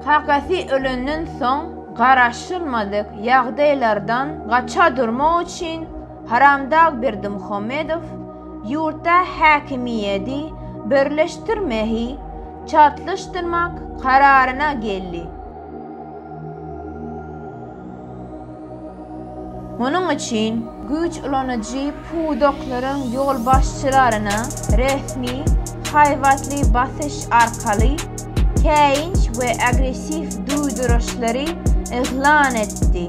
Kakasy ölenden soň garaşylmadyk ýagdaýlardan gaça durmak üçin Haramdag Berdimuhamedow ýurtda häkimiýedi birleşdirmehi çaltlaşdyrmak kararyna geldi. Munuň üçin güýç ulanyjy pudaklaryň ýolbaşçylaryna resmi haýbatly basyş arkaly käýinç we agressiw duýduryşlary yglan etdi.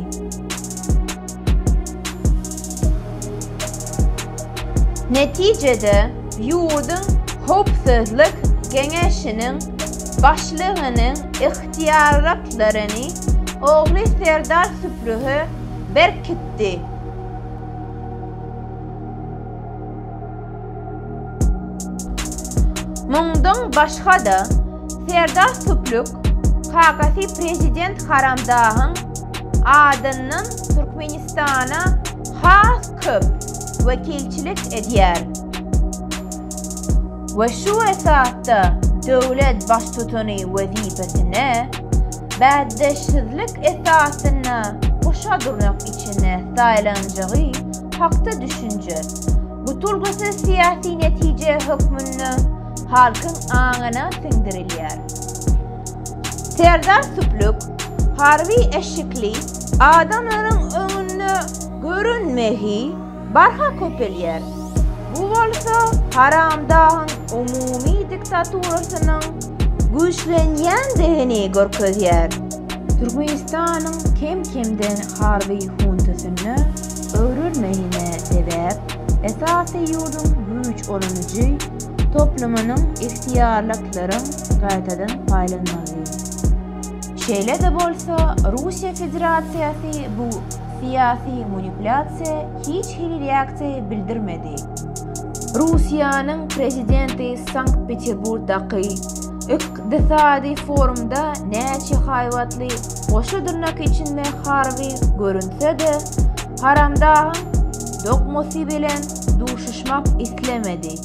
Netijede, ýurduň Howpsuzlyk geňeşiniň başlygynyň syýagatlaryny ogly Serdar Süprühe berkitdi. Mundan başga-da, Serdar Süprük kakasy prezident Haramdahyň adyndan Türkmenistana has köp wekilçilik edýär. we şu esasda döwlet Baştutany wezipesine bäsdeşsizlik esasynda guşa durnak içinde saýlanjagy hakda düşünje, bu tulgusyz syýasy netije hökmünde halkyň aňyna siňdirilýär. Serdar Süplük harby eşikli adamlaryň öňünde görünmegi barha köpelýär. Bu bolsa Haramdagyň umumy diktaturasynyň güýçlenýändigini görkezýär. Türkmenistanyň kem-kemden harby huntasyna öwrülmegine sebäp esasy ýurduň güýç ulanyjy toplumynyň ygtyýarlyklaryň gaýtadan paýlanmagy. Şeýle-de bolsa Russiýa Federasiýasy bu syýasy manipulýasiýa hiç hili reaksiýa bildirmedi. Russiýanyň prezidenti Sankt-Peterburgdaky ykdysady forumda näçe haýbatly goşa dyrnak içinde harby görünse-de, Haramdagyň dokmasy bilen duşuşmak islemedi.